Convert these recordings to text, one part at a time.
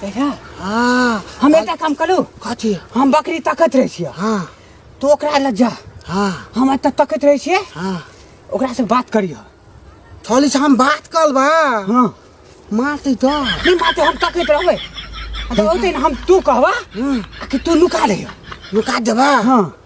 देखा हाँ हम एकटा काम करू कथी हम बकरी तकैत रहै छियै हाँ तू ओकरा लग जा हाँ हम एतऽ तकैत रहै छियै हाँ ओकरा से बात करिय थोड़ी से हम बात कर बा हाँ मारते तो नहीं माते हम तकैत रहबै आ तऽ ओतै ने हम तू कहबा हम्म, आ कि तू नुका रहिय लुका देबा हाँ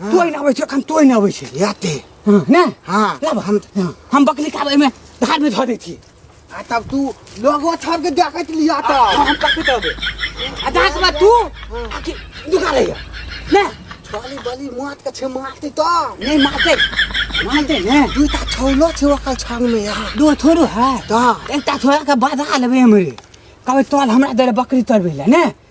तोय ना आबै छै एखन तोय ना आबै छै याते हाँ, ने हाँ लब हम हाँ। हम बकली का में धार में धो दै छी आ तब तू लोगो छोड़ के देखत लिया त हम कथि करबे आ दास बा तू आ कि दुका रहिया ने बाली बाली मात के छे मारते त नै मारते मारते ने दुटा छौलो छे ओकर छांग में या दो थोड़ो है त एकटा थोड़ा के बाधा लेबे हमरे कहबै तोल हमरा दे बकरी तोड़बे ले ने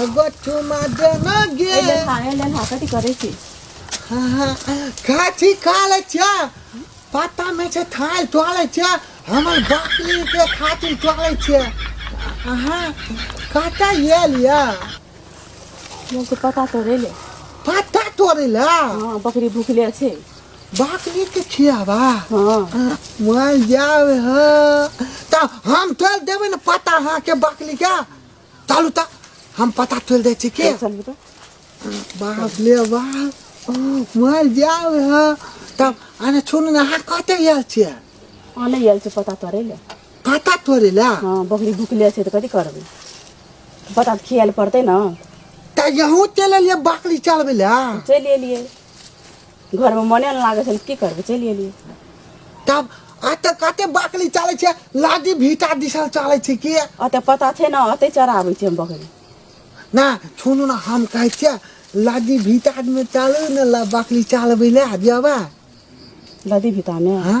एगो चुमा दे ना गे ए लेन हा ए लेन हा कथी करै छी हाँ, हाँ, काची काले छा पता में से थाल टोले छा हमर बकरी के खातिर टोले छा हाँ काटा ये लिया मोर के पता तो रे ले पता तोरे ला हां बकरी भूखले छै बकरी के खियावा हां मर जावे ह त हम तोल देबे न पता हाँ के बकरी का चलू तऽ हम पता तोल दै छी के चल बेटा बाप ले बाप मर जाओ है तब अरे छोड़ ना हाँ कहते यार छिया आ नहीं आयल छै पता तोरे ले पता तोरे ला हाँ बकरी भुकले छै तऽ कथी करबै पता तऽ खियाल पड़तै ने तऽ यहूँ चल लिए बकरी चलबे ला चलि एलियै घरमे मने नहि लागै छनि की करबै चलि एलियै तब आ तऽ कते बकरी चलै छै लादी भीटा दिसल चलै छै कि अतऽ पता छै ने अतै चराबै छै हम बकरी ना सुनू ने हम कहै छियै लादी भीटामे चलू ने ला बकरी चलबै लए जेबै लदी भीटामे हाँ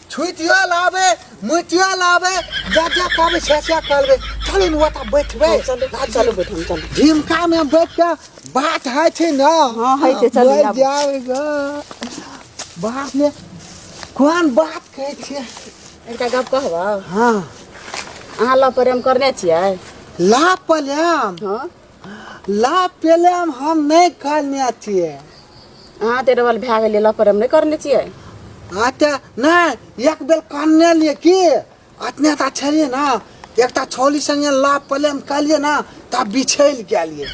छुटियो लाबे मुटियो लाबे जा जा कहबे से से कहबे चलू ने ओतऽ बैठबै चलू चलू बैठ हम चलू झिमकामे बैठ कऽ बात होइ छै ने हँ, होइ छै, चलू, बैठ आबू। जाउ गऽ। बापमे कोन बात कहै छियै एकटा गप कहबह हँ अहाँ लऽ प्रेम करने छियै ला पलाम हँ लाभ पहले हम हम नहीं करने चाहिए अहाँ तऽ डबल भए गेलियै लऽ पर हम नहि करने छियै अच्छा नहीं एक बेर करने लिए की अतने ता छलिए ना एक ता छोली संगे लाभ पहले हम कर लिए ना तब बिछैल के लिए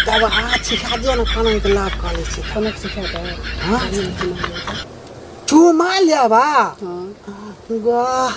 तब अहाँ सिखा दियो ना खाना के लाभ कर ले छी कोना सिखा दे हाँ चुमा लेबा हाँ वाह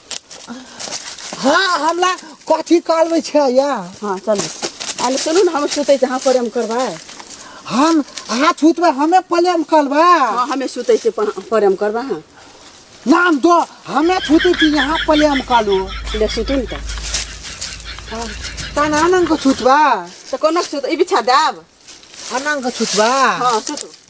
हाँ हमरा कथी करबै छै या हाँ चलू आले चलू ने हम सुतै छी अहाँ प्रेम करबै हम अहाँ छूतबै हमे प्रेम करबै हाँ हमे सुतै छी प- प्रेम करबै अहाँ नाम दो हमे छूतै छी यहाँ प्रेम करू ले सुतू ने तऽ तहन अनंग छूतबै तऽ कोना सुत ई बिछा देब अनंग छूतबै हाँ सुतू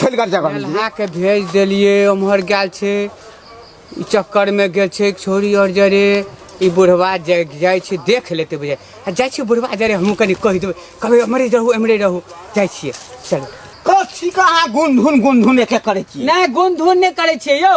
फैल कर जगह मिल गेलै के भेज देलियै ओम्हर गेल छै ई चक्करमे गेल छै छोरी आओर जरे ई बुढ़वा जाइ जाइ छै देख लेतै बुझाइ आ जाइ छै बुढ़वा जरे हमहूँ कनि कहि देबै कहबै एम्हरे रहू एम्हरे रहू जाइ छियै चलू कथी का अहाँ गुनधुन गुनधुन एके करै छी नहि गुनधुन नहि करै छियै यौ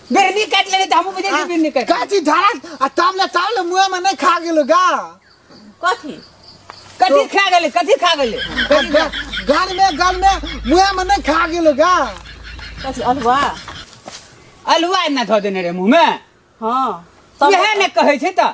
बिरनी काट लेने त हमहू बुझे छी बिरनी काट काची धरत आ तब ले तब ले मुंह में नहीं खा गेलो गा कथी कथी खा गेले कथी खा गेले आ ग- गल में गल में मुंह में नहीं खा गेलो गा कथी अलवा अलुआ ना धो देने रे मुंह में हाँ तब वहे ने कहे छै त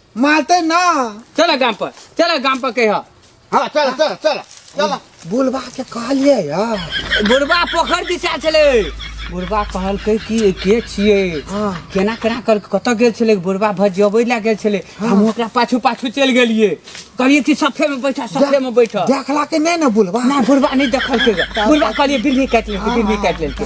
मारते ना चल गाम पर चल गाम पर कह हाँ चल चल चल चल बुलबा के कहलिए यार बुढ़बा पोखर दिशा चले बुढ़बा कहलकै कि के छिए हाँ। केना केना कर कतऽ गेल छलै बुढ़बा भजियबै लए गेल छलै हम ओकरा पाछू पाछू चलि गेलिए कहलिए कि सफे में बैठा सफे में बैठा देखला के नहीं ना बुलबा ना बुढ़बा नहीं देखलकै गे। बुढ़बा कहलिए बिल्ली काटि लेलकै बिल्ली काटि लेलकै